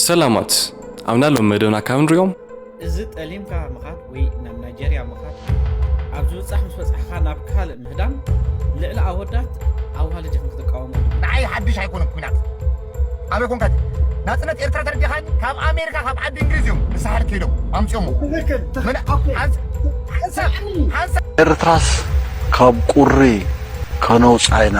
ሰላማት ኣብና ሎም መደብና ካብ ንሪኦም። እዚ ጠሊምካ ምኻድ ወይ ናብ ናይጀርያ ምኻድ ኣብ ዝብጻሕ ምስ በጻሕካ ናብ ካልእ ምህዳም ልዕሊ ኣወዳት ኣዋልድ ኢኽን ክትቃወሙ ንዓይ ሓድሽ ኣይኮነን ኩናት ኣበይ ኮንካ ናጽነት ኤርትራ ተረዲኻኒ ካብ ኣሜሪካ ካብ ዓዲ እንግሊዝ እዮም ንሳሕል ከይዶም ኣምጺኦሞ ኤርትራስ ካብ ቁሪ ከነውጻ ኢና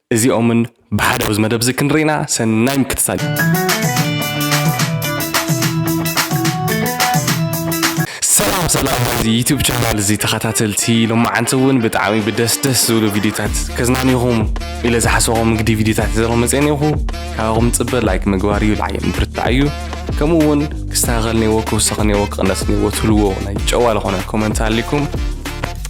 እዚኦምን ብሓደ ኣብዚ መደብ እዚ ክንርኢና ሰናይ ምክትታል። ሰላም ሰላም ናይዚ ዩቱብ ቻናል እዚ ተኸታተልቲ ሎማዓንቲ እውን ብጣዕሚ ብደስ ደስ ዝብሉ ቪድዮታት ከዝናንኹም ኢለ ዝሓሰቦም እንግዲ ቪድዮታት ዘሮ መፅኤን ይኹ ካብኹም ፅበ ላይክ ምግባር እዩ ልዓየ ምብርታዕ እዩ ከምኡ እውን ክስተኻኸል ነዎ ክውሰኽ ነዎ ክቕነስ ነዎ ትብልዎ ናይ ጨዋ ዝኾነ ኮመንት ኣሊኩም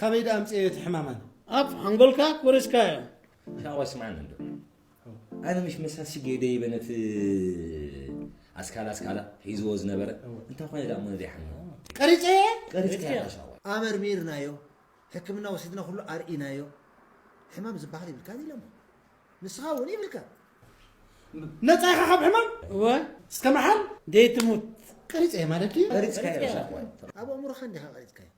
ካበይ ደኣ ኣምጽኤዮ እቲ ሕማም ኣነ። ኣፍ ሓንጎልካ ኮሪስካዮ። ሻዋ ስማዕኒ እንዶ ኣነ ምሽ መሳ ሽጌ ደይበ ነቲ ኣስካላ ኣስካላ ሒዝዎ ዝነበረ እንታይ ኮነ ደኣ እሞ ዘይሓምም ቀሪጸ እየ ቀሪጽካዮ ኢኻ ሻዋ ኣመርሚርናዮ ሕክምና ወሲድና ኩሉ ኣርኢናዮ ሕማም ዝበሃል ይብልካን ኢሎሞ ንስኻ እውን ይብልካ ነጻ ኢኻ ካብ ሕማም እወ እስከ መሓል ደይትሙት ቀሪጸ እየ ማለት ድዩ ቀሪጽካዮ ሻዋ ኣብ ኣእምሮኻ እንዲኻ ቀሪጽካዮ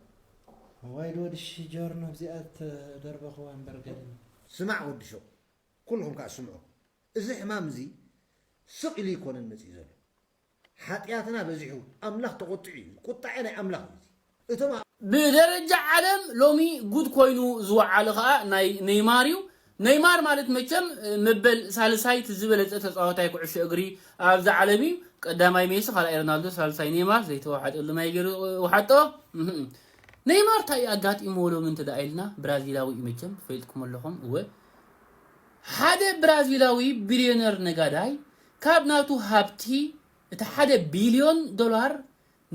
እዋይ ድወዲ ሽጆርኖ እዚኣ ዝተደርበኽዋ እምበር ገድሊ። ስማዕ ወዲ ሹቕ ኩሉኹም ከኣ ስምዑ እዚ ሕማም እዚ ስቕ ኢሉ ኣይኮነን መጺኡ ዘሎ ሓጥያትና በዚሑ ኣምላኽ ተቖጢዑ እዩ ቁጣዔ ናይ ኣምላኽ እዩ እዚ እቶም ኣብ ብደረጃ ዓለም ሎሚ ጉድ ኮይኑ ዝወዓለ ከኣ ናይ ነይማር እዩ ነይማር ማለት መቸም መበል ሳልሳይ እቲ ዝበለጸ ተጻዋታይ ኩዕሾ እግሪ ኣብዛ ዓለም እዩ ቀዳማይ ሜሲ ካልኣይ ሮናልዶ ሳልሳይ ነይማር ዘይተዋሓጠሉ ማይ ገይሩ ወሓጦ ነይማር ታይ እዩ ኣጋጢምዎ ሎሚ እንተደኣ ኢልና ብራዚላዊ እዩ መቸም ትፈልጥኩም ኣለኹም እወ ሓደ ብራዚላዊ ቢልዮነር ነጋዳይ ካብ ናቱ ሃብቲ እቲ ሓደ ቢልዮን ዶላር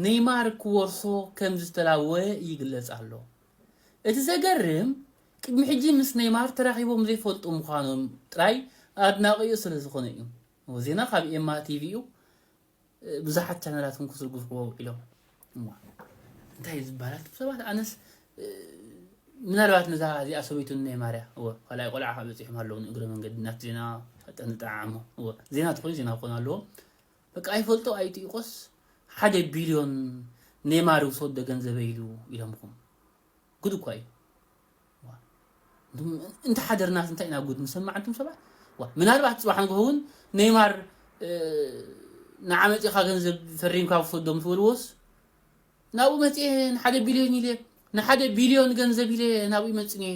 ነይማር ክወርሶ ከም ዝተላወወ ይግለጽ ኣሎ እቲ ዘገርም ቅድሚ ሕጂ ምስ ነይማር ተራኺቦም ዘይፈልጡ ምዃኖም ጥራይ ኣድናቒኡ ስለ ዝኾነ እዩ። እወ ዜና ካብ ኤማ ቲቪ እዩ ብዙሓት ቻነላት እውን ክዝርግሕዎ ውዒሎም። እሞ እንታይ እዩ ዝብሃል ኣቱም ሰባት ኣነስ ምናልባት ነዛ እዚኣ ሰበይቱ ነይማር እያ። እወ ካልኣይ ቆልዓ ከዓ በጺሖም ኣለዉ ንእግረ መንገዲ ናት ዜና ጠንጠዓዕሞ። እወ ዜና ተኾይኑ ዜና ክኾኑ ኣለዎም። በቃ ይፈልጦ ኣይጥይቆስ ሓደ ቢልዮን ኔማር ይውሰዶ ገንዘበይ ኢሉ ኢሎምኹም ጉድ እኳ እዩ ዋ እንቱም እንተ ሓደርናስ እንታይ ኢና ጉድ ንሰማዕ እንቱም ሰባት ዋ ምናልባት ጽባሕ ንግሆ እውን ኔማር እ፣ ንዓ መጺኻ ገንዘብ ፈሪምካ ውሰዶ ምስ በልዎስ ናብኡ መጽኤ ንሓደ ቢልዮን ኢለ ንሓደ ቢልዮን ገንዘብ ኢለ ናብኡ ይመጽን እየ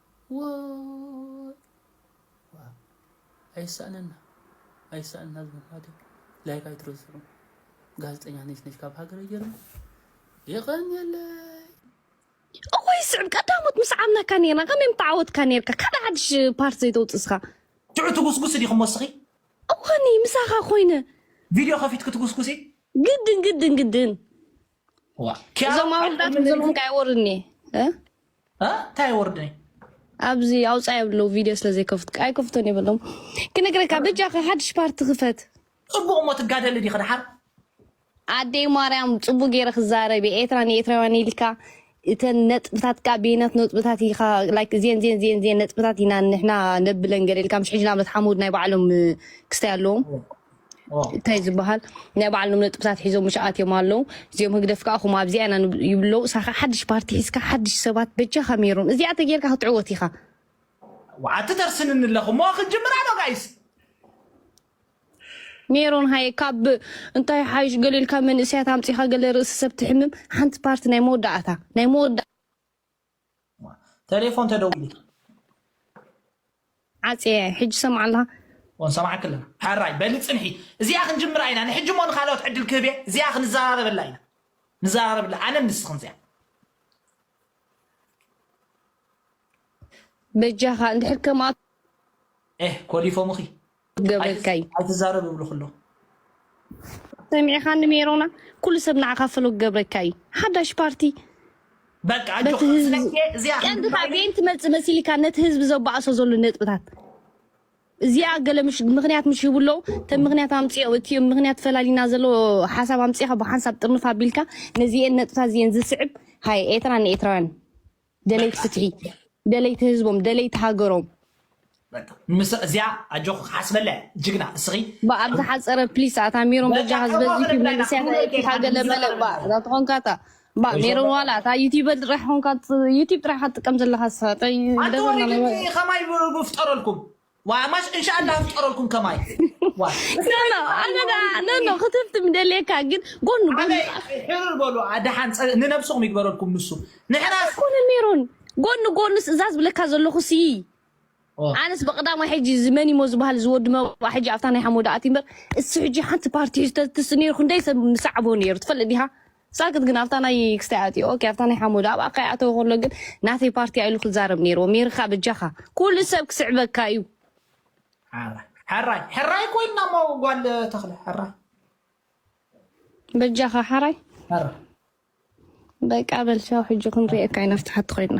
ዋይ ዋይ ኣይሳእነና ኣይሳእነና ዝብል ማለት እዩ ላይክ ኣይትረስዑ ጋዜጠኛ ነሽነሽ ካብ ሃገረ ጀርመን የቐንየለይ እወይ ስዕብ ቀዳሞት ምስ ዓብናካ ነርና ከመይ ምተዓወትካ ነርካ ካልእ ሓድሽ ፓርት ዘይተውፅስካ ትዑ ትጉስጉስ ዲኹም ወስኺ እዋኒ ምሳኻ ኮይነ ቪድዮ ከፊትክ ትጉስጉሲ ግድን ግድን ግድን እዞም ኣወዳት ንዘምኦም ከ ኣይወርድን እየ እንታይ ኣይወርድን እየ ኣብዚ ኣውፃ የብለው ቪድዮ ስለዘይከፍት ኣይከፍቶን የበሎም ክነግረካ በጃካ ሓድሽ ፓርቲ ክፈት ፅቡቅ እሞ ትጋደሊ ዲኺ ድሓር ኣደይ ማርያም ፅቡቅ ገይረ ክዛረብ እየ ኤርትራ ንኤርትራውያን ኢልካ እተን ነጥብታት ከኣ በየናት ነጥብታት ኢኻ like እዝየን እዝየን እዝየን እዝየን ነጥብታት ኢና ንሕና ነብለን ገለ ኢልካ ምሽ ሕጂ ንኣብነት ሓሙድ ናይ ባዕሎም እ፣ ክስታይ ኣለዎም ኦ፣ እንታይ ዝበሃል ናይ ባዕሎም ነጥብታት ሒዞም ምሽ ኣትዮም ኣለዉ እዚኦም ህግደፍ ከኣ ከምኡ ኣብዚኣ ኢና ንብ- ይብሉ ኣለዉ እሳ ከኣ ሓድሽ ፓርቲ ሒዝካ ሓድሽ ሰባት በጃኻ ሜሮን እዚኣ ተጌርካ ክትዕወት ኢኻ ወዓቲ ተርስንኒ ኣለኹ እሞ ክጅምራ ዶ ጋይስ ሜሮን ሃየ ካብ እንታይ ይሓይሽ ገለ ኢልካ መንእሰያት ኣምጺኻ ገለ ርእሲ ሰብ ትሕምም ሓንቲ ፓርቲ ናይ መወዳእታ ናይ መወዳ ተሌፎን ተደዊሉ ዓጽየ ሕጂ ሰምዓ ኣለኻ ወንሰማዕክ ኣለና ሕራይ በሊ ፅንሒ እዚኣ ክንጅምራ ኢና ንሕጂ ሞ ንካልኦት ዕድል ክህብ እየ እዚኣ ክንዘራረበላ ኢና ንዘራረብላ ኣነን ንስኽን እዚኣ በጃኻ እንድሕር ከምኣ ኤህ ኮሊፎምኺ ገበርከይ ኣይትዛረብ ይብሉኽ ኣሎ። ሰሚዕኻኒ ሜሮና ኩሉ ሰብ ንዓኻ ፈለግ ገብረካ እዩ ሓዳሽ ፓርቲ በቃ ኣጆኽ በቲ ህዝቢ ስለኪ እዚኣ ቀንዲ ክንዲ ካብ ባይኒ ቤን ትመፅእ መሲልካ ነቲ ህዝቢ ዘባእሶ ዘሎ ነጥብታት እዚኣ ገለ ምሽ ምክንያት ምሽ ይብሉ ኣለዉ እተን ምክንያት ኣምፅኦ እቲ ምክንያት ፈላሊና ዘሎ ሓሳብ ኣምፅኻ ብሓንሳብ ጥርንፍ ኣቢልካ ነዚኤን ነጥብታት እዚኤን ዝስዕብ ሃይ ኤትራ ንኤትራውያን ደለይቲ ፍትሒ ደለይቲ ህዝቦም ደለይቲ ሃገሮም በቃ ምስ እዚኣ ኣጆኺ ክሓስበላ እየ ጅግና እስኺ ባ ኣብ ዝሓፀረ ፕሊስ ኣታ ሜሮን በቃ በጃኻ እዚ ዝበዝሕ ወኽሪ ዩ ብላይና መንእሰያት ሙሉእ ኣየኪካ ጌርካ ገለ በለ ንዛረብ ባ ኣለና እዛ ተኾንካ እታ ባ ወይ ሜሮን ሸበላ ዋላ እታ ዩቲበር ጥራሕ ኾንካ ዩቲብ ጥራሕ እካ ትጥቀም ዘለኻ ንስኻ እንታይ ኣንተ ደበና ወሪድ ናይ ኸማይ ብፍጠረልኩም ዋይ ማሽ እንሻላ ፍጠረልኩም ከማይ ኖኖ ኣነዳ ኖኖ ክትፍት ምደልየካ ግን ጎኑ ጎኑ ሕርር በሉ ድሓን ንነብስኹም ይግበረልኩም ንሱ ንሕናስ ኮነ ሜሮን ጎኑ ጎኑስ እዛ ዝብለካ ዘለኹ ሲ ኣነስ በቅዳማ ሕጂ ዝመኒሞ ዝበሃል ዝወዲ መባ ሕጂ ኣብታ ናይ ሓሞዳ ኣቲ እምበር እሱ ሕጂ ሓንቲ ፓርቲ ሒዝተትስ ነይሩ ክንደይ ሰብ ምሳዕቦ ነይሩ ትፈልጥ ዲኻ ሳክት ግን ኣብታ ናይ ክስታይ ኣትዩ ኦኬ ኣብታ ናይ ሓሙድ ኣብኣ ከይኣተወ ከሎ ግን ናተይ ፓርቲ ኣዩ ኢሉ ክዛረብ ነይርዎ ሜርካ በጃካ ኩሉ ሰብ ክስዕበካ እዩ። ሕራይ ሕራይ ኮይና እሞ ጓል ተክለ ሕራይ በጃካ ሓራይ በቃ በል ቻው ሕጂ ክንሪኤካ ኢና ኣብቲ ሓቲ ኮይና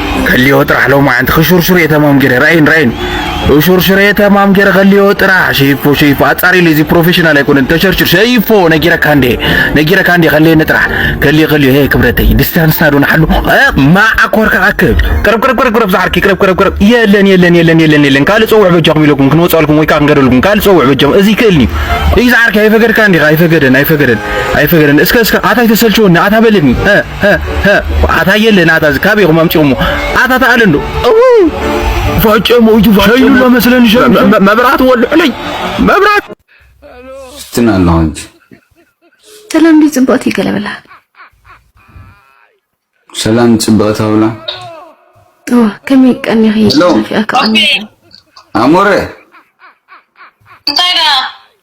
ከልዮ ጥራሕ ሎማዓንቲ ክሹርሹርየ ተማም ገይረ ራኣይን ራኣይን ክሹርሹርየ ተማም ገይረ ከልዮ ጥራሕ ሸይፎ ሸይፎ ኣጻሪለይ እዚ ፕሮፌሽናል ኣይኮነን ተሸርሽር ሸይፎ ነጊረካ እንዴ ነጊረካ እንዴ ከልየኒ ጥራሕ ከልዮ ከልዮ ሄ ክብረተይ ዲስታንስና ዶ ንሓሉ ማዓ ኮርካ ኣክብ ቅረብ ቅረብ ቅረብ ቅረብ ዝዓርኪ ቅረብ ቅረብ ቅረብ የለን የለን የለን የለን የለን ካልእ ጸውዕ በጃኹም ኢለኩም ክንወጻልኩም ወይ ከዓ ክንገደልኩም ካልእ ጸውዕ በጃኹም እዚ ይክእልኒ እዩ ዝዓርኪ ኣይፈገድካ እንዲኻ ኣይፈገደን ኣይፈገደን ኣይፈገደን እስከ እስከ ኣታ ኣይተሰልችወኒ ኣታ በለኒ ሀ ሀ አታየልህ ናታ እዚ ካበይ ኹም ኣምጪኦሞ ኣታታ ኣለ እንዶ እውይ ፋጨሞ እዩ ፋጨሞ መስለን መብራት ወልሑለይ መብራት ስትና ኣለኹ እንጂ ሰላም ዲ ጽብቕቲ ገለበላ ሰላም ጽብቕቲ ኣብላ እዎ ከመይ ቀኒኺ ጽፊያ ከቐኒ ኣሞረ እንታይ ደኣ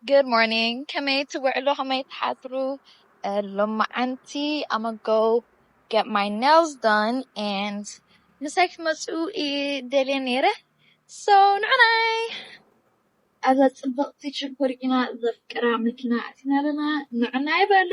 Good morning ከመይ ትውዕሉ ከመይ ትሓድሩ ሎማዓንቲ I'ma go get my nails done and ምሳይ ክትመጹ እየ ደልየ ነይረ so ንዑናይ። ኣብዛ ጽብቕቲ ሽኮር ኢና ዘፍቅራ መኪና ኣቲና ኣለና ንዑናይ በሉ።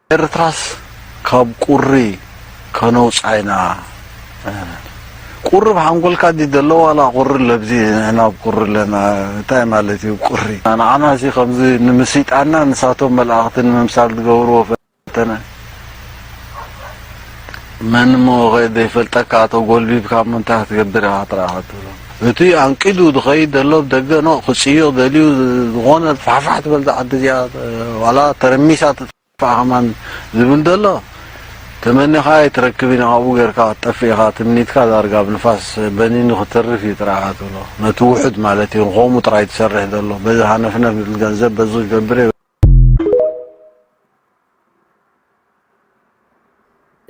ኤርትራስ ካብ ቁሪ ከነውጻ ኢና እህ። ቁሪ ኣብ ሓንጎልካ ድዩ ዘሎ ዋላ ቁሪ ኣሎ ኣብዚ ንሕና ኣብ ቁሪ ኣለና እንታይ ማለት እዩ ቁሪ። ንዓና ሲ ከምዚ ንምስይጣንና ንሳቶም መልኣኽቲ ንምምሳል ዝገብርዎ ፈተነ። መን እሞ ከይዘይፈልጠካ ተጎልቢብካ እሞ እንታይ ክትገብር ኢኻ ጥራይ ክትብሎ እቲ ኣንቂዱ ዝኸይድ ዘሎ ብደገ ኖእ ክጽዮ ደልዩ ዝኾነ ፋሕፋሕ ትበል ዝዓዲ እዚኣ ዋላ ተረሚሳ ትጥፋእ ከማን ዝብል ዘሎ ተመኒኻ ኣይትረክብ ኢና ካብኡ ጌርካ ክትጠፍእ ኢኻ ትምኒትካ ዳርጋ ኣብ ንፋስ በኒኑ ክትርፍ እዩ ጥራይ ኢኻ ትብሎ ነቲ ውሑድ ማለት እዩ ንኸምኡ ጥራይ ትሰርሕ ዘሎ በዚ ሃነፍነፍ ዝብል ገንዘብ በዚ ክገብር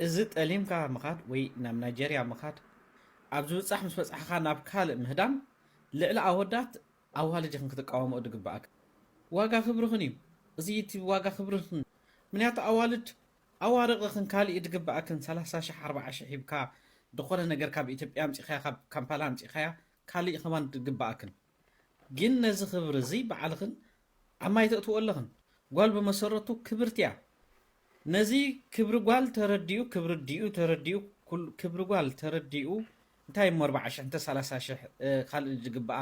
እዚ ጠሊምካ ምኻድ ወይ ናብ ናይጀርያ ምኻድ ኣብ ዝብጻሕ ምስ በጻሕኻ ናብ ካልእ ምህዳም ልዕሊ ኣወዳት ኣዋልድኽን ክትቃወምኦ ድግብኣክን ዋጋ ክብርኽን እዩ እዚ እቲ ዋጋ ክብርኽን ምንያቱ ኣዋልድ ኣዋርቕኽን ካልእ እዩ ድግብኣክን ሰላሳ ሽሕ ኣርብዓ ሽሕ ሂብካ ድኾነ ነገር ካብ ኢትዮጵያ ኣምጺኻያ ካብ ካምፓላ ኣምጺኻያ ካልእ እዩ ከማን ድግብኣክን ግን ነዚ ክብሪ እዚ ባዕልኽን ኣብ ማይ ተእትዎ ኣለኽን። ጓል ብመሰረቱ ክብርቲ እያ። ነዚ ክብሪ ጓል ተረዲኡ ክብሪ ኣዲኡ ተረዲኡ ክብሪ ጓል ተረዲኡ እንታይ እሞ ኣርባዓ ሽሕ እንተ ሰላሳ ሽሕ ካልእ ዝግብኣ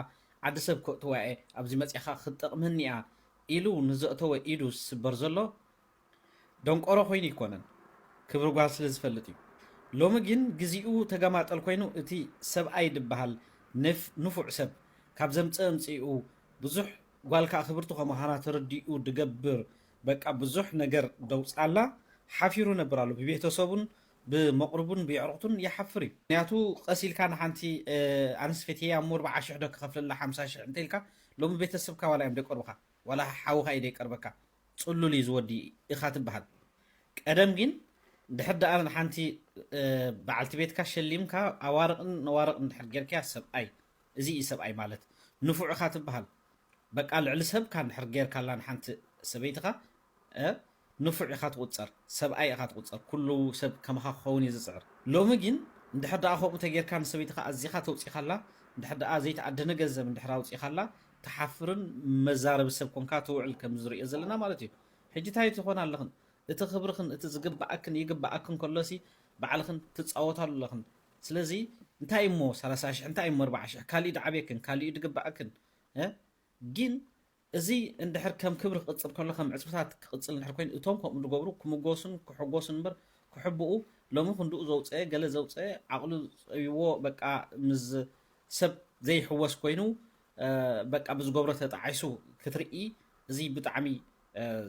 ዓዲ ሰብ ከእትዋ እየ ኣብዚ መጺኻ ክትጠቕመኒ እያ ኢሉ ንዘእተወ ኢዱ ዝስበር ዘሎ ደንቆሮ ኮይኑ ኣይኮነን ክብሪ ጓል ስለ ዝፈልጥ እዩ ሎሚ ግን ግዚኡ ተገማጠል ኮይኑ እቲ ሰብኣይ ድበሃል ንፉዕ ሰብ ካብ ዘምጽእ ኣምጺኡ ብዙሕ ጓል ከኣ ክብርቲ ከመዃና ተረዲኡ ድገብር በቃ ብዙሕ ነገር ደውጻላ ሓፊሩ ነብር ኣሎ ብቤተሰቡን ብመቅርቡን ብየዕሩክቱን ይሓፍር እዩ ምክንያቱ ቀስ ኢልካ ንሓንቲ ኣንስ ፌትየያ እሞ ኣርብዓ ሽሕ ዶ ክከፍለላ ሓምሳ ሽሕ እንተ ኢልካ ሎሚ ቤተሰብካ ዋላ እዮም ደይቀርቡካ ዋላ ሓውካ እዩ ደይቀርበካ ጽሉል ኢዩ ዝወዲ ኢካ ትብሃል ቀደም ጊን ድሕር ድኣ ንሓንቲ ብዓልቲ ቤትካ ሸሊምካ ኣዋርቅን ነዋርቅን ድሕር ጌርካያ ሰብኣይ እዚ ኢዩ ሰብኣይ ማለት ንፉዕ ኢካ ትብሃል በቃ ልዕሊ ሰብካ ድሕር ጌርካላ ንሓንቲ ሰበይትካ ንፉዕ ኢካ ትቁጸር ሰብኣይ ኢካ ትቁጸር ኩሉ ሰብ ከማካ ክከውን ኢዩ ዝጽዕር ሎሚ ጊን ድሕር ድኣ ከምኡ ተጌርካ ንሰበይትካ ኣዚካ ተውጺካላ ድሕር ድኣ ዘይትኣደነ ገንዘብ ድሕር ኣውጺካላ ትሓፍርን መዛረቢ ሰብ ኮንካ ትውዕል ከምዚ ንሪኦ ዘለና ማለት እዩ ሕጂ ታይ ትኾና ኣለኽን እቲ ክብርኽን እቲ ዝግበኣክን ይግበኣክን ከሎሲ ባዕልኽን ትጻወታሉ ኣለኽን ስለዚ እንታይ እሞ ሰላሳ ሽሕ እንታይ እሞ ኣርብዓ ሽሕ ካሊእ ድዓብየክን ካሊእ እዩ ድግበኣክን እ ጊን እዚ እንድሕር ከም ክብሪ ክቕጽል ከሎ ከም ዕጽፍታት ክቕጽል እንድሕር ኮይኑ እቶም ከምኡ ድገብሩ ክምጎሱን ክሕጎሱን እምበር ክሕብኡ ሎሚ ክንድኡ ዘውጸኤ ገለ ዘውጸኤ ዓቕሉ ጸቢብዎ በቃ ምስ ሰብ ዘይሕወስ ኮይኑ በቃ ብዝገብሮ ተጣዒሱ ክትርኢ እዚ ብጣዕሚ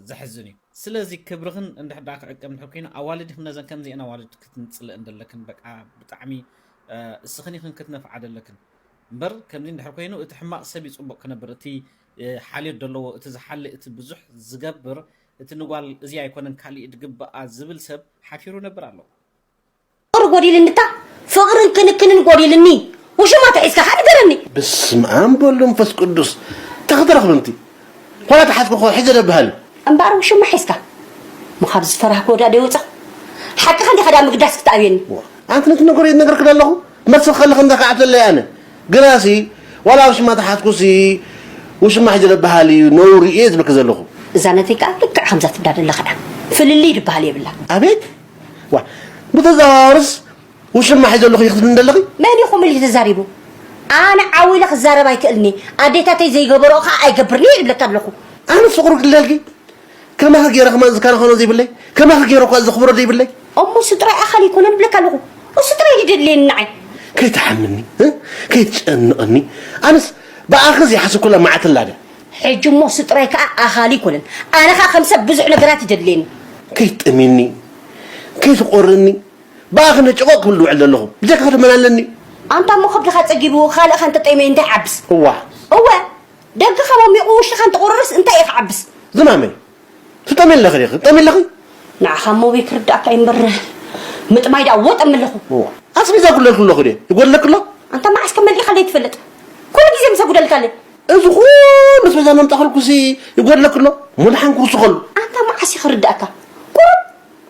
ዘሕዝን እዩ ስለዚ ክብርኽን እንድሕር ደኣ ክዕቀብ እንድሕር ኮይኑ ኣዋልድኽን ነዘን ከምዚኤን ኣዋልድ ክትንጽልእ እንደለክን በቃ ብጣዕሚ እስኽን ኢኽን ክትነፍዓ ደለክን እምበር ከምዚ እንድሕር ኮይኑ እቲ ሕማቕ ሰብ እዩ ፅቡቕ ክነብር እቲ ሓልዮት ዘለዎ እቲ ዝሓሊ እቲ ብዙሕ ዝገብር እቲ ንጓል እዚ ኣይኮነን ካሊእ ድግበኣ ዝብል ሰብ ሓፊሩ ነብር ኣለዎ ፍቅሪ ጎዲልኒ እታ ፍቅርን ክንክንን ጎዲልኒ ውሽማ ተሒዝካ ከ ንገረኒ። ብስምኣም ብወልድ መንፈስ ቅዱስ እንታይ ክትረኽቢ እንቲ ዋላ ተሓዝኩ እኮ ሒዘ ዶ በሃሊ። እምበኣር ውሽማ ሒዝካ እሞ ካብ ዝፈራህ ጎዳእ ዶ ይወጻ ሓቅኻ እንዲኻ ድኣ ምግዳስ ክትኣብየኒ። ኣንቲ ነቲ ነገር ይነግርኪ ደለኹ መልሲ ክኸልኽ እንተ ክዓብተለይ ኣነ ግናሲ ዋላ ውሽማ ተሓዝኩሲ ውሽማ ሒዘ ዶ በሃሊ እዩ ነውሪ እየ ዝብለኪ ዘለኹ። እዛ ነቲ ከኣ ልክዕ ከምዛ ትብላ ደለኻ እያ ፍልልይ ድበሃል የብላን። ኣቤት ዋይ ብተዘዋዋርስ ውሽማ ሒዘ ኣለኹ ኢኺ ክትብሊ ዘለኺ? መን ኢኹም ኢሉ ተዛሪቡ? ኣነ ዓው ኢለ ክዛረብ ኣይክእልን እየ፣ ኣዴታተይ ዘይገበርኦ ከዓ ኣይገብርን እየ ይብለኪ ኣለኹ። ኣነስ ፍቅሩ ክልለልኪ ከማኺ ገይረ ከማን ዝከናኸኖ ዘይብለይ ከማኺ ገይረ እኳ ዘኽብሮ ዘይብለይ እሞ እሱ ጥራይ ኣኻሊ ኣይኮነን እብለኪ ኣለኹ። እሱ ጥራይ እዩ ደድልየኒ ንዓይ። ከይትሓምኒ እ ከይትጨንቕኒ ኣነስ ብኣኺ ዘይሓሰብኩላ መዓልቲ ኣላ ድያ? ሕጂ እሞ ስጥሮይ ከኣ ኣኻሊ ኣይኮነን ኣነ ከኣ ከም ሰብ ብዙሕ ነገራት ይደድሌኒ። ከይትጠምየኒ ከይትቆርኒ ብኣ ክነጨቆ ክብል ዝውዕል ዘለኹ ብጀካ ከደመን ኣለኒ። ኣንታ እሞ ከብድኻ ጸጊቡ ካልእ ከ እንተጠምየ እንታይ ይዓብስ። እዋ። እወ ደገኻ ሞሚቑ ውሽጥኻ እንተቆረረስ እንታይ ኢዩ ክዓብስ። ዝማመይ ትጠሚ ኣለኺ ዲኺ ትጠሚ ኣለኺ። ንዓኻ ሞቢ ክርድኣካ እዩ እምበር ምጥማይ ድኣ እወ እጠሚ ኣለኹ። እወ ኣስቤዛ ይጉድለልኪ ኣለኹ ድየ ይጎድለኪ ኣሎ? ኣንታ መዓስ ከ መሊእኻለይ ትፈልጥ ኩሉ ግዜ ምስ ኣጉደልካ ኣለይ። እዚ ኩሉ ኣስቤዛ መምጻእክልኩሲ ይጎድለኪ ኣሎ? እሞ ድሓን ክውስኸሉ። ኣንታ መዓስ እዩ ክርድኣካ ቁሩብ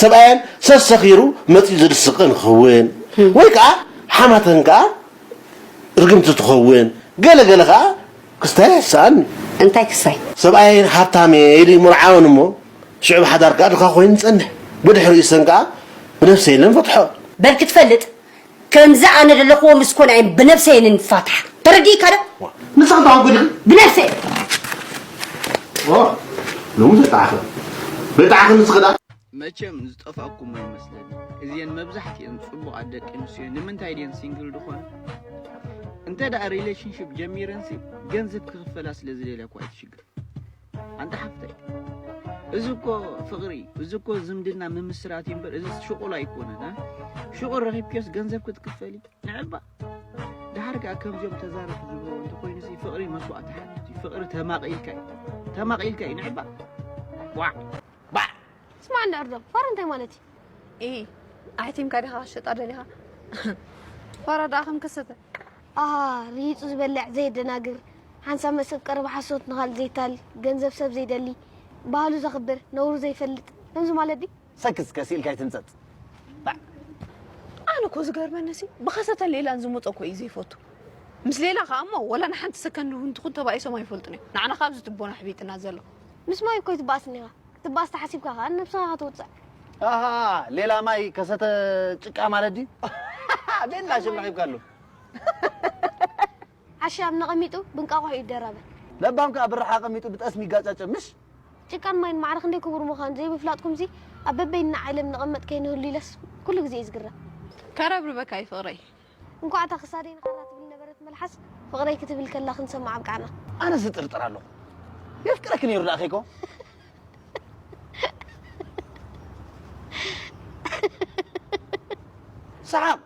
ሰብኣየን ሰስ ሰኺሩ መጺኡ ዝድስቕን ክኽውን ወይ ከኣ ሓማተን ከኣ ርግምቲ ትኸውን ገለ ገለ ከኣ ክስታይ ኣይስኣን እዩ። እንታይ ክስታይ? ሰብኣየን ሃብታም እየ ኢሉ ይምርዓወን እሞ ሽዑ ብሓዳር ከኣ ድኻ ኮይኑ ይጸንሕ። ብድሕሪኡ እሰን ከኣ ብነብሰይለን ፈትሖ። በል ክትፈልጥ ከምዚ ኣነ ደለክዎ ምስ ኮና እየን ብነብሰይ እየ ንፋታሕ ተረዲእካ ዶ ንስኪ ተዋጉዲ ብነብሰይ ኦ ሎሚ ዘጣዓኺ በጣዕኺ ንስኺ ዳ መቸም ዝጠፋኩም ኣይመስለንን እዚኤን መብዛሕቲኤን ጽቡቃት ደቂ ኣንስትዮ ንምንታይ ድየን ሲንግል ድኾና እንተ ሪሌሽንሽፕ ጀሚረንሲ ገንዘብ ክኽፈላ ስለ ዝደልያ እኮ ኣይትሽግር ኣንታ ሓፍተይ እዚ እኮ ፍቅሪ እዚ እኮ ዝምድና ምምስራት እዩ እምበር እዚ ሽቁል ኣይኮነን ሽቁል ረኺብክዮስ ገንዘብ ክትክፈሊ ንዕባ ድሓር ከዓ ከምዚኦም ተዛረብ ዝብሎ እንተኮይኑ ሲ ፍቅሪ መስዋእቲ ሓትት እዩ ፍቅሪ ተማቂልካ እዩ ተማቂልካ እዩ ንዕባ ዋዕ ባዕ ስማ እንዳ ዕርዶ ፋራ እንታይ ማለት እዩ ኢ ኣሕቲምካ ዲኻ ክሸጣ ደሊኻ ፋራ ደኣ ከም ከሰተ ኣሃ ርሂጹ ዝበልዕ ዘየደናግር ሓንሳብ መሰብ ቀረባ ሓሶት ንኻልእ ዘይታል ገንዘብ ሰብ ዘይደሊ ባህሉ ዘኽብር ነውሩ ዘይፈልጥ ከምዚ ማለት ድዩ? ሰክስ ከስ ኢልካ ኣይትህንጸጽ ባዕ። ኣነ እኮ ዝገርመኒ ሲ ብኸሰተን ሌላን ዝመጾ እኮ እዩ ዘይፈቱ ምስ ሌላ ከኣ እሞ ወላ ንሓንቲ ሰከንድ እውን ትኹን ተባኢሶም ኣይፈልጡን እዮም ንዓና ካብዚ ትቦና ኣሕቢጥና ዘሎ ምስ ማይ እኮ ኣይትባኣስን ኢኻ ክትባኣስ ተሓሲብካ ከኣ ንነብስኻ ኢኻ ተውጽዕ ኣሃ ሌላ ማይ ከሰተ ጭቃ ማለት ድዩ ቤላ ሽም ረኺብካሉ ዓሻ ኣብ ነቐሚጡ ብእንቃቑሖ ይደራበ። ለባም ከኣ ብራሕ ኣቐሚጡ ብጠስሚ ይጋጫጨ። ምሽ? ጭቃን ማይን ማዕረ ክንደይ ክቡር ምዃኑ ዘይምፍላጥኩምሲ ኣብ በበይንና ዓለም ንቐመጥ ከይንህሉ ኢለስ ኩሉ ግዜ እየ ዝግረም። ከረብርበካ እዩ ፍቕረይ። እንኳዕ እታ ክሳደይ ንኻራ ትብል ነበረት መልሓስ ፍቕረይ ክትብል ከላ ክንሰምዓ ኣብቃዕና። ኣነስ እጥርጥር ኣለኹ የፍቅረኪ ነይሩ ደኣ ኬኮ። ሰሓቕ!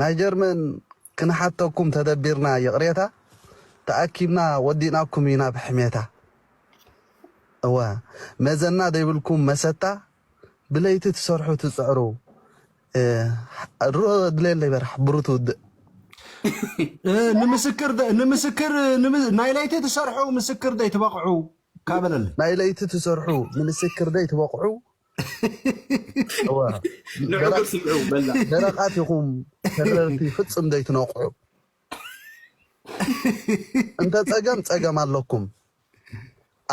ናይ ጀርመን ክንሓተኩም ተደቢርና ይቕሬታ ተኣኪብና ወዲእናኩም ኢና ብሕሜታ እወ መዘና ደይብልኩም መሰታ ብለይቲ ትሰርሑ ትጽዕሩ እህ ድሌለይ በራሕ ብሩት ውድእ። ንምስክር ደ- ንምስክር ንምስ- ናይ ለይቲ ትሰርሑ ምስክር ደይ ትበቕዑ ካበለለይ ናይ ለይቲ ትሰርሑ ንምስክር ደይ ትበቕዑ ንዕግር ስምዑ በላ ደረቓት ኢኹም ተረርቲ ፍጽም ዘይትነቕዑ እንተ ጸገም ጸገም ኣለኩም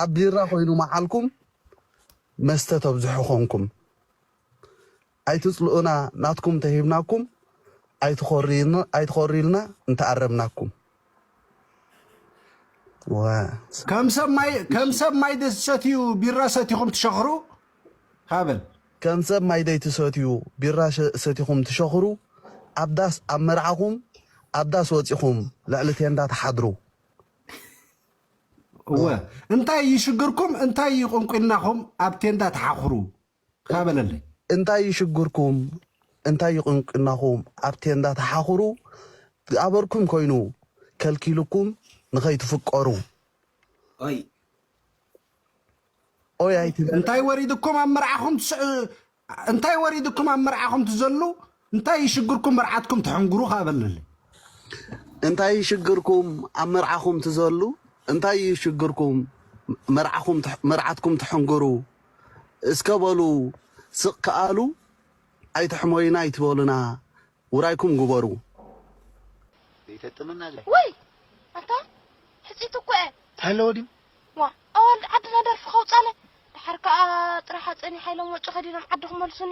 ኣብ ቢራ ኮይኑ መዓልኩም መስተ ተብዝሑ ኮንኩም ኣይትጽልኡና ናትኩም ተሂብናኩም ኣይትኾርዩልና እንተኣረምናኩም ከም ሰብ ማይ ከም ሰብ ማይ ደሰትዩ ቢራ ሰቲኹም ትሸኽሩ ሃበል ከም ሰብ ማይ ደይትሰትዩ ቢራ ሰቲኹም ትሸኽሩ ኣብ ዳስ ኣብ መርዓኹም ኣብ ዳስ ወጺኹም ልዕሊ ቴንዳ ትሓድሩ እወ እንታይ እዩ ሽግርኩም እንታይ እዩ ቁንቁናኹም ኣብ ቴንዳ ትሓኽሩ እካ በለለይ። እንታይ እዩ ሽግርኩም እንታይ እዩ ቁንቁናኹም ኣብ ቴንዳ ተሓኹሩ ዝኣበርኩም ኮይኑ ከልኪሉኩም ንኸይትፍቀሩ ኦይ ኦይ ኣይትበል። እንታይ ወሪድኩም ኣብ መርዓኹም ትስዕ እንታይ ወሪድኩም ኣብ መርዓኹም ትዘሉ እንታይ እዩ ሽግርኩም መርዓትኩም ትሕንግሩ ከኣ በለለይ። እንታይ እዩ ሽግርኩም ኣብ መርዓኹም ትዘሉ እንታይ እዩ ሽግርኩም መርዓኹም መርዓትኩም ትሕንግሩ እስከ በሉ ስቕ ከኣ ኣሉ ኣይትሕመዩና ኣይትበሉና ውራይኩም ግበሩ። ዘይተጥምና ድዩ ወይ ኣታ ሕጽይቲ እኮ እየ ተሃለወ ድዩ ዋእ ኣዋልድ ዓድና ደርፊ ከውጻለ ደሓር ከኣ ጥራሓ ጸኒሓ ኢሎም ወጮ ከዲኖም ዓዲ ክመልሱኒ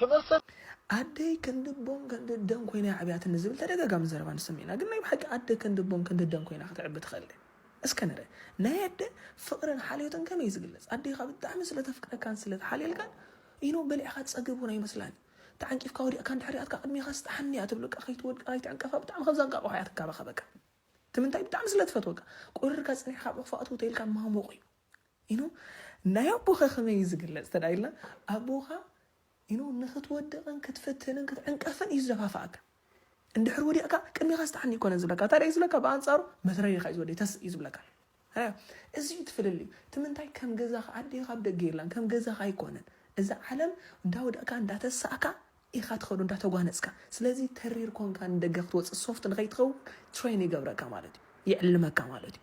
ትመስል። ኣደይ ክንዲ ቦን ክንዲ እደን ኮይና እያ ኣዕብያትኒ ዝብል ተደጋጋሚ ዘረባ ንሰምዕ ኢና ግን ናይ ብሓቂ ኣደ ክንዲ ቦን ክንዲ እደን ኮይና ከተዕቢ ትኽእል ድያ እስከ ንርእ ናይ ኣደ ፍቅርን ሓልዮትን ከመይ ዝግለጽ ኣዴኻ ብጣዕሚ ስለ ተፍቅረካን ስለ ትሓልየልካን ኢኖ በሊዕኻ ትጸግብ ውን ኣይመስላን እዩ ተዓንቂፍካ ወዲቅካ እንድሕር ሪኣትካ ቅድሜኻስ ጥሓኒ እያ ትብለካ ከይትወድቅ ከይትዕንቀፋ ብጣዕሚ ከም ዘንቃቅሖ እያ ትንካባኸበካ ትምንታይ ብጣዕሚ ስለ ትፈትወካ ቁርርካ ጸኒሕካ ኣብ ዑቅፋ እትው ተይልካ ማሞቅ እዩ ኢኖ ናይ ኣቦኻ ከመይ እዩ ዝግለጽ እንተ ኢልና ኣቦኻ ኢኖ ንክትወድቕን ክትፍትንን ክትዕንቀፍን እዩ ዝደፋፍኣካ እንድሕር ወዲቕካ ቅድሚኻ ዝተሓኒ ይኮነ ዝብለካ እንታይ እዩ ዝብለካ ብኣንጻሩ መትረሪኻ እዩ ዝወዲ ተስ እዩ ዝብለካ እዚ እዩ ትፍልልዩ እቲ ምንታይ ከም ገዛኻ ኣዴኻ ኣብ ደገ የላን ከም ገዛኻ ኣይኮነን እዛ ዓለም እንዳወደቕካ እንዳተሳእካ ኢኻ ትኸዶ እንዳ ተጓነጽካ ስለዚ ተሪር ኮንካ ንደገ ክትወጽእ ሶፍት ንኸይትኸውን ትሬን ይገብረካ ማለት እዩ ይዕልመካ ማለት እዩ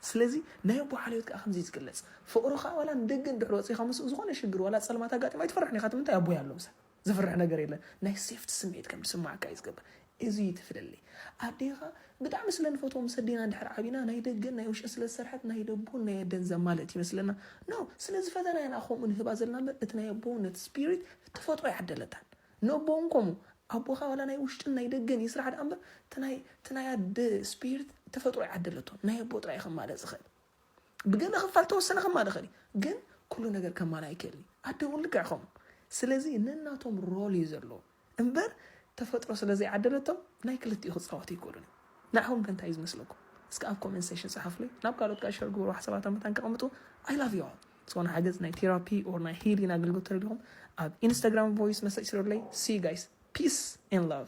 ስለዚ ናይ ኣቦ ሓልዮት ከኣ ከምዚ እዩ ዝግለጽ ፍቕሩ ከኣ ዋላ ንደገ እንድሕር ወጺኻ ምስኡ ዝኾነ ሽግር ዋላ ጸልማት ኣጋጢሙ ኣይትፈርሕን ኢኻ እቲ ምንታይ ኣቦይ ኣሎ ምሳይ ዝፍርሕ ነገር የለን ናይ ሴፍቲ ስምዒት ከም ዝስምዓካ እዩ ዝገብር እዚ እዩ እቲ ፍልልይ። ኣዴኻ ብጣዕሚ ስለ ንፈትዎም ምስ ኣዴና እንድሕር ዓቢና ናይ ደገን ናይ ውሽጥን ስለ ዝሰርሐት ናይ ደቡን ናይ ኣደን ዘማልእት ይመስለና። No! ስለ ዝፈተናያ ኢና ከምኡ ንህባ ዘለና እምበር እቲ ናይ ኣቦውነት Spirit ተፈጥሮ ኣይዓደለታን። ንኣቦ እውን ከምኡ። ኣቦኻ ዋላ ናይ ውሽጥን ናይ ደገን ይስራሕ ድኣ እምበር እቲ ናይ እቲ ናይ ኣደ Spirit ተፈጥሮ ኣይዓደለቶን። ናይ ኣቦ ጥራይ እዩ ከማልእ ዝኽእል። ብገለ ክፋል ተወሰነ ከማልእ ይኽእል እዩ ግን ኩሉ ነገር ከማልእ ኣይክእልን እዩ ኣደ እውን ልክዕ ከምኡ ስለዚ ነናቶም ሮል እዩ ዘለዎ እምበር ተፈጥሮ ስለ ዘይዓደለቶም ናይ ክልቲኡ ክፃወቱ ይክእሉን እዩ ንዓኹም ከ እንታይ እዩ ዝመስለኩም እስከ ኣብ ኮሜንት ሴሽን ፀሓፍሉይ ናብ ካልኦት ከዓ ሸር ግብሩ ሓሳባት ኣብ መታን ከቐምጡ ኣይ ላቭ ዩ ኦል ዝኾነ ሓገዝ ናይ ቴራፒ ኦር ናይ ሂሊን ኣገልግሎት ተደሊኹም ኣብ ኢንስታግራም ቮይስ መሰጅ ስረለይ ሲ ጋይስ ፒስ ን ላቭ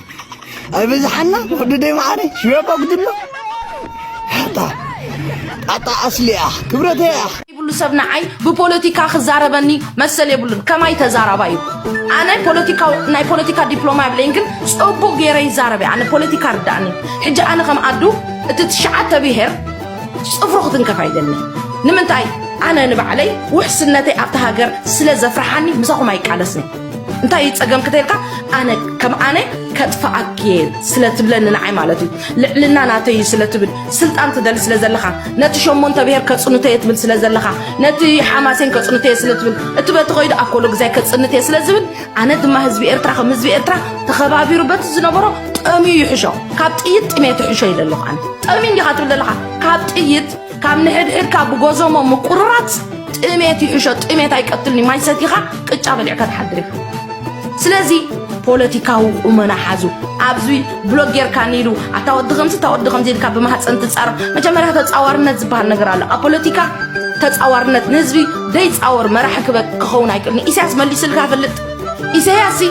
ኣይበዝሓና ወድደይ መዓረይ ሽያቆ ግድሎ ኣታ ኣታ ኣስሊያ ክብረተይ እያ ይብሉ ሰብ ንዓይ ብፖለቲካ ክዛረበኒ መሰል የብሉን ከማይ ተዛራባ እዩ ኣነ ፖለቲካ ናይ ፖለቲካ ዲፕሎማ የብለይን ግን ጽቡቅ ገይረ ይዛረብ ኣነ ፖለቲካ ርዳእኒ ሕጂ ኣነ ከም ኣዱ እቲ ትሽዓተ ብሄር ጽፍሩ ክትንከፍ ኣይደሊ ንምንታይ ኣነ ንባዕለይ ውሕስነተይ ኣብቲ ሃገር ስለ ዘፍርሓኒ ምሳኹም ኣይቃለስን እንታይ እዩ ፀገምክ ተልካ ኣነ ከም ኣነ ከጥፍኣክ እየ ስለ ትብለኒ ንዓይ ማለት እዩ ልዕልና ናተይ እዩ ስለ ትብል ስልጣን ትደሊ ስለ ዘለኻ ነቲ ሸሞንተ ብሄር ከፅንቶ እየ ትብል ስለ ዘለኻ ነቲ ሓማሴን ከፅንቶ እየ ስለ ትብል እቲ በቲ ከይዱ ኣኮሎ ግዛይ ከፅንት እየ ስለ ዝብል ኣነ ድማ ህዝቢ ኤርትራ ከም ህዝቢ ኤርትራ ተኸባቢሩ በቲ ዝነበሮ ጠምዩ ይሕሾ ካብ ጥይት ጥሜት ይሕሾ ይደለኹ ኣነ ጠምዩ እንዲኻ ትብል ዘለኻ ካብ ጥይት ካብ ንሕድሕድካ ብጎዞሞ ምቁርራፅ ጥሜት ይሕሾ ጥሜት ኣይቀትልኒ ማይ ሰቲኻ ቅጫ በሊዕካ ትሓድር ኢኻ ስለዚ ፖለቲካዊ ቁመና ሓዙ ኣብዚ ብሎግ ጌርካ ኒሉ ኣታ ወዲ ከምዚ እታ ወዲ ከምዚ ኢልካ ብማህፀን ትፃረፍ መጀመርያ ተፃዋርነት ዝበሃል ነገር ኣሎ ኣብ ፖለቲካ ተፃዋርነት ንህዝቢ ደይፃወር መራሒ ክኸውን ኣይክእል ንኢሳያስ መሊስልካ ፈልጥ ኢሳያስ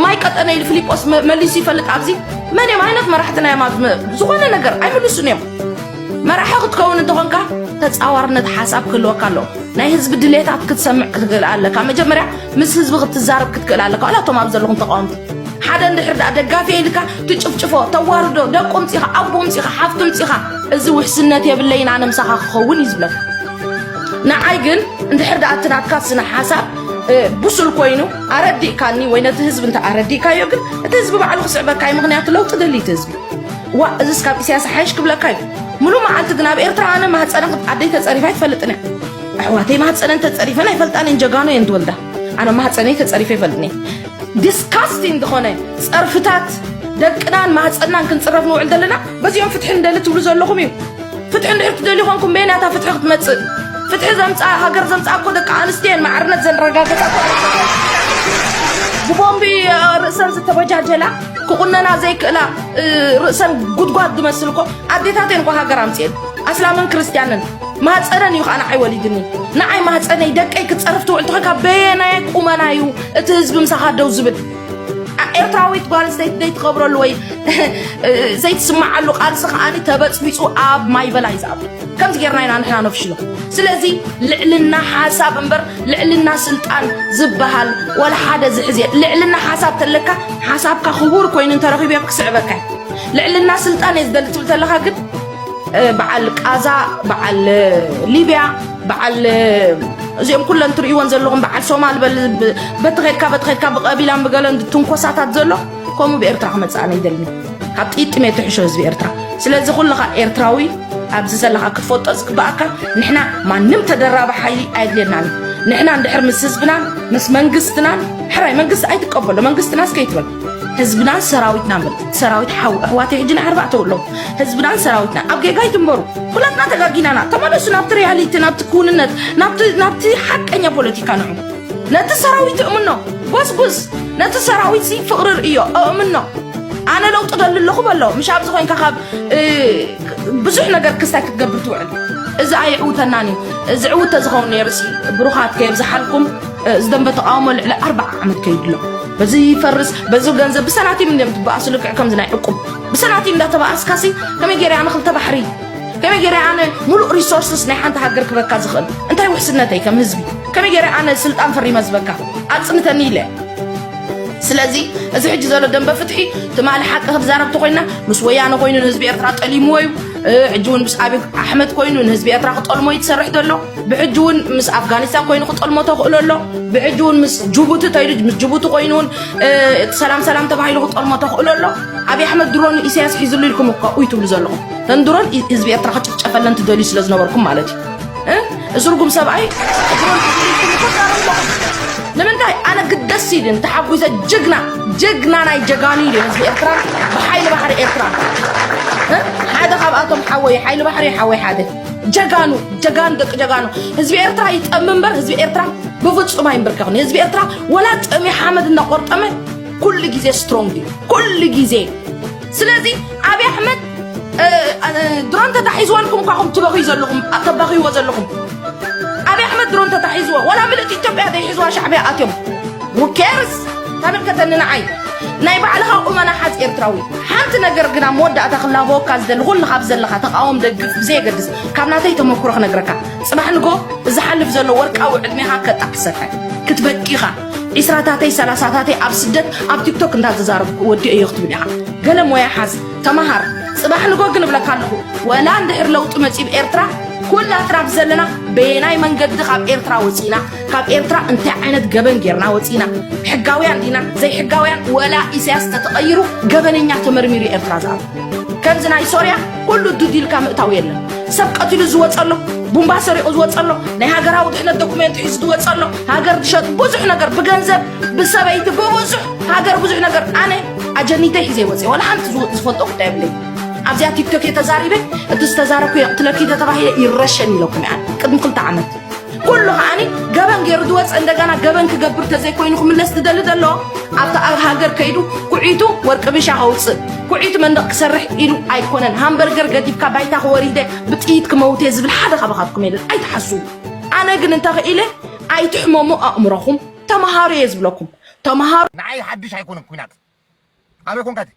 ማይ ቀጠነ ኢሉ ፊሊጶስ መሊሱ ይፈልጥ ኣብዚ መን እዮም ዓይነት መራሕትና እዮም ዝኾነ ነገር ኣይምልሱን እዮም መራሒ ክትከውን እንተኾንካ ተጻዋርነት ሓሳብ ክህልወካ ኣለዎ ናይ ህዝቢ ድሌታት ክትሰምዕ ክትክእል ኣለካ መጀመርያ ምስ ህዝቢ ክትዛረብ ክትክእል ኣለካ ዋላ እቶም ኣብ ዘለኹም ተቃወምቲ ሓደ እንድሕር ደኣ ደጋፊ ኢልካ ትጭፍጭፎ ተዋርዶ ደቁ ምፂኻ ኣቦ ምፂኻ ሓፍቱ ምፂኻ እዚ ውሕስነት የብለይን ኣነ ምሳኻ ክኸውን እዩ ዝብለካ ንዓይ ግን እንድሕር ደኣ እቲ ናትካ ስነ ሓሳብ ብሱል ኮይኑ ኣረዲእካኒ ወይ ነቲ ህዝቢ እንተ ኣረዲእካዮ ግን እቲ ህዝቢ ባዕሉ ክስዕበካ እዩ ምክንያቱ ለውጢ ደልዩ እቲ ህዝቢ ዋእ እዝስ ካብ ኢሳያስ ሓይሽ ክብለካ እዩ ሙሉ መዓልቲ ግን ኣብ ኤርትራ ኣነ ማህፀነ ኣደይ ተፀሪፋ ኣይትፈልጥን እያ ኣሕዋተይ ማህፀነን ተፀሪፈን ኣይፈልጣን እየን ጀጋኑ እየን ትወልዳ ኣነ ማህፀነይ ተፀሪፈ ይፈልጥኒ ዲስካስቲን ዝኾነ ፀርፍታት ደቅናን ማህፀናን ክንፅረፍ ንውዕል ዘለና በዚኦም ፍትሒ ንደሊ ትብሉ ዘለኹም እዩ ፍትሒ እንድሕር ትደሊ ኮንኩም በየናታ ፍትሒ ክትመፅእ ፍትሒ ዘምፃ ሃገር ዘምፃ እኮ ደቂ ኣንስትዮን ማዕርነት ዘረጋገፃ ብቦምቢ ርእሰን ዝተበጃጀላ ክቁነና ዘይክእላ ርእሰን ጉድጓድ ዝመስል እኮ ኣዴታተን እኮ ሃገር ኣምፅኤን ኣስላምን ክርስትያንን ማህፀነን እዩ ከዓ ንዓይ ወሊድኒ ንዓይ ማህፀነይ ደቀይ ክትፀርፍ ትውዕል ተኾይካ በየናይ ቁመና እዩ እቲ ህዝቢ ምሳኻ ደው ዝብል ኤርትራዊት ጓል ኣንስተይቲ ዘይትኸብረሉ ወይ ዘይትስምዓሉ ቃልሲ ከዓኒ ተበፅቢፁ ኣብ ማይበላ እዩ ዝኣቱ ከምዚ ጌርና ኢና ንሕና ነፍሽሎ ስለዚ ልዕልና ሓሳብ እምበር ልዕልና ስልጣን ዝበሃል ወላ ሓደ ዝሕዝ እየ ልዕልና ሓሳብ ተለካ ሓሳብካ ክቡር ኮይኑ እንተረኺቡ እየ ክስዕበካ ልዕልና ስልጣን እየ ዝደሊ ትብል ተለካ ግን በዓል ቃዛ በዓል ሊብያ በዓል እዚኦም ኩለን ትርእይዎን ዘለኹም በዓል ሶማል በቲ ኸድካ በቲ ኸድካ ብቀቢላን ብገለን ትንኮሳታት ዘሎ ከምኡ ብኤርትራ ክመጽእ ኣነ ይደልኒ ካብ ጥይት ጥሜት ትሕሾ ህዝቢ ኤርትራ ስለዚ ኩልኻ ኤርትራዊ ኣብዚ ዘለኻ ክትፈልጦ ዝግባኣካ ንሕና ማንም ተደራቢ ሓይሊ ኣየድልየናን ንሕና እንድሕር ምስ ህዝብናን ምስ መንግስትናን ሕራይ መንግስቲ ኣይትቀበሎ መንግስትናስ ከይትበል ህዝብናን ሰራዊትና በል ሰራዊት ሓው ኣሕዋተይ ሕጂ ናይ ኣርባዕተ ኣለዉ ህዝብናን ሰራዊትና ኣብ ጌጋ ይትንበሩ ኩላትና ተጋጊናና ተመለሱ ናብቲ ሪያሊቲ ናብቲ ክውንነት ናብቲ ሓቀኛ ፖለቲካ ንዑ ነቲ ሰራዊት እእምኖ ጎስጉስ ነቲ ሰራዊት ሲ ፍቕሪ ርእዮ እእምኖ ኣነ ለውጢ ደሊ ኣለኹ በሎ ምሽ ኣብዚ ኮንካ ካብ ብዙሕ ነገር ክስታይ ክትገብር ትውዕል እዚ ኣይዕውተናን እዩ ዝዕውት ተዝኸውን ነይርሲ ብሩኻት ከየብዝሓልኩም ዝደንበ ተቃውሞ ልዕሊ ኣርባዓ ዓመት ከይድሎ በዚ ይፈርስ በዚ ገንዘብ ብሰናቲም እንዲም ትበኣሱ ልክዕ ከምዚ ናይ ዕቁብ ብሰናቲም እንዳተበኣስካሲ ከመይ ገይረ ኣነ ክልተ ባሕሪ ከመይ ገይረ ኣነ ሙሉእ ሪሶርስስ ናይ ሓንቲ ሃገር ክበካ ዝኽእል እንታይ ውሕስነተይ ከም ህዝቢ ከመይ ገይረ ኣነ ስልጣን ፈሪመ ዝበካ ኣፅንተኒ ኢለ ስለዚ እዚ ሕጂ ዘሎ ደንበ ፍትሒ ትማሊ ሓቂ ክትዛረብ ተኮይና ምስ ወያነ ኮይኑ ንህዝቢ ኤርትራ ጠሊምዎ እዩ ሕጂ እውን ምስ ኣብይ ኣሕመድ ኮይኑ ንህዝቢ ኤርትራ ክጠልሞ እዩ ትሰርሕ ዘሎ ብሕጂ እውን ምስ ኣፍጋኒስታን ኮይኑ ክጠልሞ ተኽእሎ ኣሎ ብሕጂ እውን ምስ ጅቡቲ ተይሉ ምስ ጅቡቲ ኮይኑ እውን ሰላም ሰላም ተባሂሉ ክጠልሞ ተኽእሎ ኣሎ ኣብይ ኣሕመድ ድሮን ኢሳያስ ሒዝሉ ኢልኩም እኳ ኡይ ትብሉ ዘለኹም ተንድሮን ህዝቢ ኤርትራ ክጭፍጨፈለን ትደልዩ ስለ ዝነበርኩም ማለት እዩ እዚ ርጉም ሰብኣይ ንምንታይ ኣነ ግደስ ኢልን ተሓጒሰ ጅግና ጅግና ናይ ጀጋኑ ኢሉ ህዝቢ ኤርትራ ብሓይሊ ባሕሪ ኤርትራ ሓደ ካብኣቶም ሓወይ ሓይሊ ባሕሪ ሓወይ ሓደ ጀጋኑ ጀጋኑ ደቂ ጀጋኑ ህዝቢ ኤርትራ ይጠም እምበር ህዝቢ ኤርትራ ብፍጹም ኣይንብርከኽን ህዝቢ ኤርትራ ወላ ጥሚ ሓመድ እናቆርጠመ ኩሉ ግዜ ስትሮንግ እዩ ኩሉ ግዜ ስለዚ ኣብይ ኣሕመድ ድሮን ተታሒዝዎ ኢልኩም እኳ ኹም ትበኽዩ ዘለኹም ተባኽይዎ ዘለኹም ኣብይ ኣሕመድ ድሮን ተታሒዝዎ ወላ ምልእቲ ኢትዮጵያ ዘይሕዝዋ ሻዕብያ ኣትዮም ውኬርስ ተመልከተኒ ንዓይ ናይ ባዕልኻ ቁመና ሓዝ ኤርትራዊ ሓንቲ ነገር ግና መወዳእታ ክላበወካ ዝደሊ ኩሉ ካብ ዘለኻ ተቃወም ደግፍ ብዘየገድስ ካብ ናተይ ተመክሮ ክነግረካ ፅባሕ ንጎ ዝሓልፍ ዘሎ ወርቃዊ ዕድሜኻ ከጣዕ ክትሰፍሐ ክትበቂኻ ዒስራታተይ ሰላሳታተይ ኣብ ስደት ኣብ ቲክቶክ እንዳ ተዛረብኩ ወዲኦዮ ክትብል ኢኻ ገለ ሞያ ሓዝ ተማሃር ጽባሕ ንጎ ግን እብለካ ኣለኹ ወላ እንድሕር ለውጢ መጺኡ ብ ኤርትራ ኩላትና ብዘለና በየናይ መንገዲ ካብ ኤርትራ ወፂና ካብ ኤርትራ እንታይ ዓይነት ገበን ጌርና ወፂና ሕጋውያን ዲና ዘይሕጋውያን ወላ ኢሳያስ ተተቐይሩ ገበነኛ ተመርሚሩ ኤርትራ ዝኣ ከምዚ ናይ ሶርያ ኩሉ ዱድ ኢልካ ምእታው የለን ሰብ ቀቲሉ ዝወፀ ኣሎ ቡምባ ሰሪቑ ዝወፀ ኣሎ ናይ ሃገራዊ ድሕነት ዶኩሜንት ሒዙ ዝወፀ ኣሎ ሃገር ዝሸጥ ብዙሕ ነገር ብገንዘብ ብሰበይቲ ብብዙሕ ሃገር ብዙሕ ነገር ኣነ ኣጀኒተይ ሒዘ ይወፀ ዋላ ሓንቲ ዝወ- ዝፈልጦ ጉዳይ የብለይ ኣብዚኣ ቲክቶክ እየ ተዛሪበ እቲ ዝተዛረብኩ የቕትለኪ ተተባሂለ ይረሸን ኢለኩም እያ ቅድሚ ክልተ ዓመት ኩሉ ከዓኒ ገበን ገይሩ ዝወፀ እንደገና ገበን ክገብር ተዘይኮይኑ ክምለስ ዝደሊ ዘሎ ኣብቲ ኣብ ሃገር ከይዱ ኩዒቱ ወርቂ ቢሻ ከውፅእ ኩዒቱ መንደቕ ክሰርሕ ኢሉ ኣይኮነን ሃምበርገር ገዲፍካ ባይታ ክወሪደ ብጥይት ክመውት እየ ዝብል ሓደ ካባኻትኩም የለን ኣይትሓስቡ ኣነ ግን እንተኽኢለ ኣይትሕመሙ ኣእምሮኹም ተምሃሩ እየ ዝብለኩም ተምሃሩ ንዓይ ሓድሽ ኣይኮነን ኩናት ኣበይ ኮንካ እቲ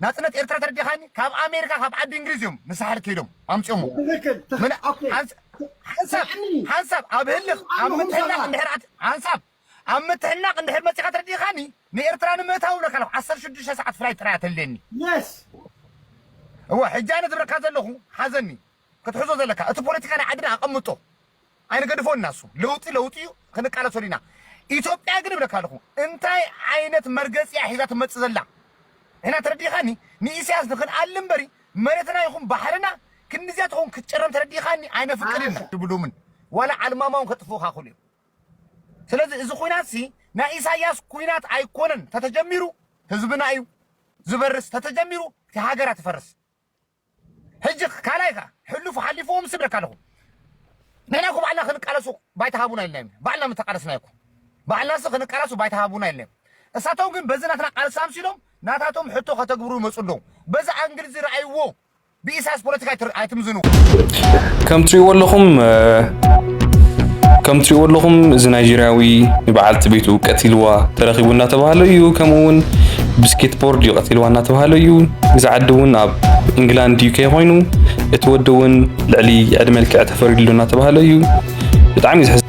ናጽነት ኤርትራ ተረዲኻኒ ካብ ኣሜሪካ ካብ ዓዲ እንግሊዝ እዮም ንሳሕል ከይዶም ኣምጽኦሞ ትክክል ትክክል ኦኬ ሓንሳብ ስምዕኒ ሓንሳብ ኣብ ህልኽ ኣብ ኣነኹም ምትሕናቕ ሰባት እንድሕር ኣት ሓንሳብ ኣብ ምትሕናቕ እንድሕር መጺኻ ተረዲኻኒ ንኤርትራ ንምእታው እብለካ ኣለኹ ዓሰርተ ሽዱሽተ ሰዓት ፍላይት ጥራይ እያ ተድልየኒ የስ እወ ሕጂ ኣነ ዝብለካ ዘለኹ ሓዘኒ ክትሕዞ ዘለካ እቲ ፖለቲካ ናይ ዓድና ኣቀምጦ ኣይንገድፎን ኢና እሱ ለውጢ ለውጢ እዩ ክንቃለሰሉ ኢና ኢትዮጵያ ግን እብለካ ኣለኹ እንታይ ዓይነት መርገፂ እያ ሒዛ ትመፅእ ዘላ ሕና ተረዲኻኒ ንኢሳያስ ንክንኣሊ እምበሪ መሬትና ይኹን ባሕርና ክንድዚያ ትኸውን ክትጨረም ተረዲኻኒ ኣይነፍቅድን ኢና ድብሉምን ዋላ ዓልማማውን ከጥፍኡኻ ክሉ እዮም ስለዚ እዚ ኩናት ሲ ናይ ኢሳያስ ኩናት ኣይኮነን ተተጀሚሩ ህዝብና እዩ ዝበርስ ተተጀሚሩ እቲ ሃገራ ትፈርስ ሕጂ ካልኣይ ከኣ ሕሉፍ ሓሊፉ ምስ እብለካ ኣለኹ ንሕና እኮ ባዕልና ክንቃለሱ ባይታ ሃቡና ኢልና ኢና ባዕልና ምተቃለስናዮ እኮ ባዕልናሲ ክንቃለሱ ባይታ ሃቡና ኢልና እሳቶም ግን በዚ ናትና ቃልሲ ኣምሲሎም ናታቶም ሕቶ ከተግብሩ ይመፁ ኣለዉ በዚ ኣንግል እዚ ረኣይዎ ብኢሳያስ ፖለቲካ ኣይትምዝንዎ ከም ትሪእዎ ኣለኹም ከም ትሪእዎ ኣለኹም እዚ ናይጀርያዊ ንበዓልቲ ቤቱ ቀቲልዋ ተረኺቡ እናተባህለ እዩ ከምኡ እውን ብስኬት ቦርድ እዩ ቀቲልዋ እናተባህለ እዩ እዚ ዓዲ እውን ኣብ ኢንግላንድ ዩኬ ኮይኑ እቲ ወዲ እውን ልዕሊ ዕድመ ልክዕ ተፈሪድሉ እናተባህለ እዩ ብጣዕሚ እዩ ዝሕዝ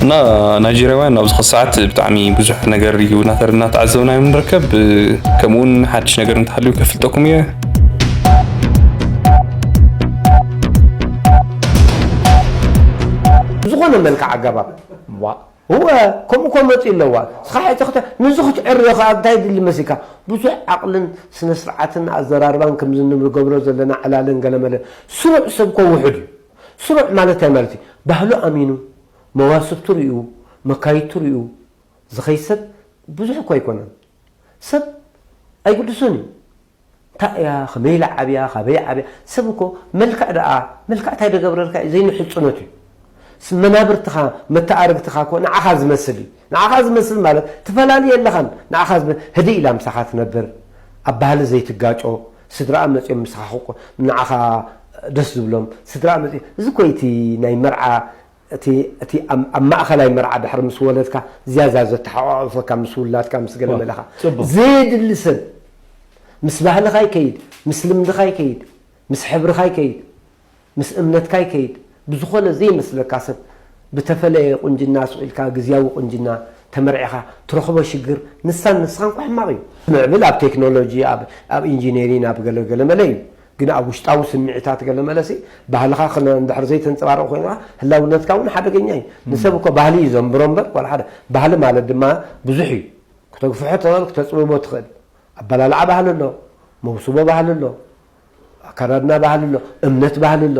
እና ናይጀርያውያን ኣብዚ ኸዚ ሰዓት ብጣዕሚ ብዙሕ ነገር እዩ እናተ- እናተዓዘብና እዮም ንርከብ ከምኡውን ሓድሽ ነገር እንተሃልዩ ከፍልጠኩም እየ ብዝኾነ መልክዕ ኣገባብ ዋእ እወ ከምኡ ከመፅኡ ኣለዋ ስኻሕይ ተኽተ ንዚ ክትዕርዮ ኸኣ እንታይ የድሊ መሲልካ ብዙሕ ዓቕልን ስነስርዓትን ኣዘራርባን ከምዝንገብሮ ዘለና ዕላልን ገለመለን ስሩዕ ሰብ እኮ ውሑድ እዩ ስሩዕ ማለት እንታይ ማለት እዩ ባህሉ ኣሚኑ መዋስብቱ ሪኡ መካይድቱ ሪኡ ዝኸይድ ሰብ ብዙሕ እኮ ኣይኮነን ሰብ ኣይግድሶን እዩ እንታይ እያ ከመይ ኢላ ዓብያ ካበይ ዓብያ ሰብ እኮ መልክዕ ደኣ መልክዕ እንታይ ደገብረልካ እዩ ዘይንሕጹነት እዩ መናብርትኻ መተኣርግትኻ እኮ ንዓኻ ዝመስል እዩ ንዓኻ ዝመስል ማለት ትፈላሊ የለኻን ንዓኻ ዝመስል ህድእ ኢላ ምሳኻ ትነብር ኣብ ባህሊ ዘይትጋጮ ስድራኣ መጽዮም ምሳኻ ንዓኻ ደስ ዝብሎም ስድራኣ መጽዮም እዚ እኮ እዩ እቲ ናይ መርዓ እቲ እቲ ኣብ ማእኸላይ መርዓ ድሕሪ ምስ ወለድካ ዝያዳ ዘተሓቋቑፈካ ምስ ውላድካ ምስ ገለ መለኻ ጽቡቕ። ዘየድሊ ሰብ ምስ ባህልኻ ይከይድ ምስ ልምድኻ ይከይድ ምስ ሕብርኻ ይከይድ ምስ እምነትካ ይከይድ ብዝኾነ ዘይመስለካ ሰብ ብተፈለየ ቁንጅና ሱቕ ኢልካ ግዝያዊ ቁንጅና ተመርዒኻ ትረኽቦ ሽግር ንሳን ንስኻን እኳ ሕማቕ እዩ። ምዕብል ኣብ ቴክኖሎጂ ኣብ ኣብ ኢንጂነሪን ኣብ ገለ ገለ መለ እዩ ግን ኣብ ውሽጣዊ ስምዒታት ገለ መለሲ ባህልኻ ክን እንድሕር ዘይተንጸባርቕ ኮይኑ ከኣ ህላውነትካ እውን ሓደገኛ እዩ። ንሰብ እኮ ባህሊ እዩ ዘንብሮ እምበር ዋላ ሓደ ባህሊ ማለት ድማ ብዙሕ እዩ። ክተግፍሖ ትኽእል ክተጽብቦ ትኽእል። ኣበላልዓ ባህሊ ኣሎ፣ መውስቦ ባህሊ ኣሎ፣ ኣከዳድና ባህሊ ኣሎ፣ እምነት ባህሊ ኣሎ።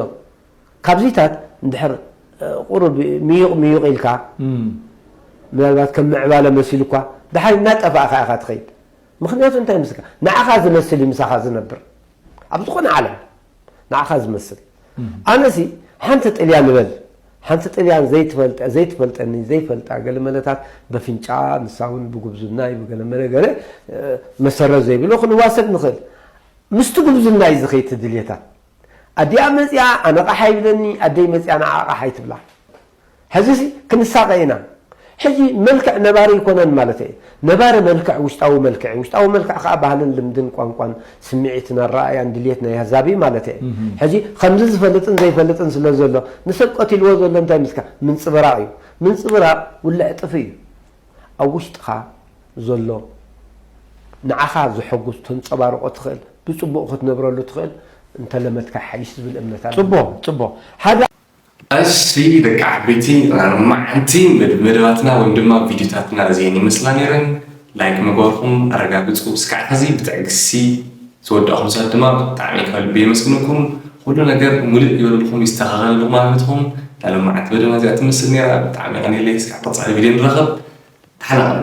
ካብዚታት እንድሕር ቁሩብ ምዩቕ ምዩቕ ኢልካ ምናልባት ከም ምዕባለ መሲሉኳ ደሓር እናጠፋእካ ኢኻ ትኸይድ። ምኽንያቱ እንታይ መስለካ ንዓኻ ዝመስል እዩ ምሳኻ ዝነብር ኣብ ዝኾነ ዓለም ንዓኻ ዝመስል ኣነሲ ሓንቲ ጥልያ ንበል ሓንቲ ጥልያን ዘይትፈልጠ ዘይትፈልጠኒ ዘይፈልጣ ገለ መለታት በፍንጫ ንሳ እውን ብጉብዝናይ ብገለ መለ ገለ መሰረት ዘይብሎ ክንዋሰድ ንኽእል ምስቲ ጉብዝናይ እዚ ከይትድልየታ ኣዲኣ መፅኣ ኣነቓሓ ይብለኒ ኣደይ መፅኣ ንዓቓሓ ይትብላ ሕዚሲ ክንሳቐ ኢና። ሕጂ መልክዕ ነባሪ ኣይኮነን ማለተይ እየ። ነባሪ መልክዕ ውሽጣዊ መልክዕ እዩ። ውሽጣዊ መልክዕ ከኣ ባህልን ልምድን ቋንቋን ስምዒትን ኣረኣእያን ድልየት ናይ ኣህዛብ እዩ ማለተይ እየ። ሕጂ ከምዚ ዝፈልጥን ዘይፈልጥን ስለ ዘሎ ንሰብ ቀቲልዎ ዘሎ እንታይ ምስካ ምንጽብራቕ እዩ። ምንጽብራቕ ውልዕ ጥፍእ እዩ። ኣብ ውሽጥኻ ዘሎ ንዓኻ ዘሐጉስ ተንጸባርቖ ትኽእል ብጽቡቕ ክትነብረሉ ትኽእል እንተለመድካ ይሓይሽ ዝብል እምነት ኣለኒ። ጽቡቕ ጽቡቕ። ሓደ። እሺ ደቂ ዓበይቲ ርማዓንቲ መደባትና ወይም ድማ ቪድዮታትና እዚኤን ይመስላ ነይረን ላይክ ምግባርኩም ኣረጋግፁ እስካዕ ሕዚ ብትዕግስቲ ዝወዳእኩም ሰባት ድማ ብጣዕሚ ካብ ልቢ የመስግነኩም ኩሉ ነገር ሙልእ ይበለልኩም ይስተኻኸለልኩም ኣብ ህይወትኩም ናይ ሎማዓንቲ መደብና እዚኣ ትመስል ነይራ ብጣዕሚ ኣንየለይ እስካዕ ቀፃሊ ቪድዮ ንራኸብ ተሓናቐሉ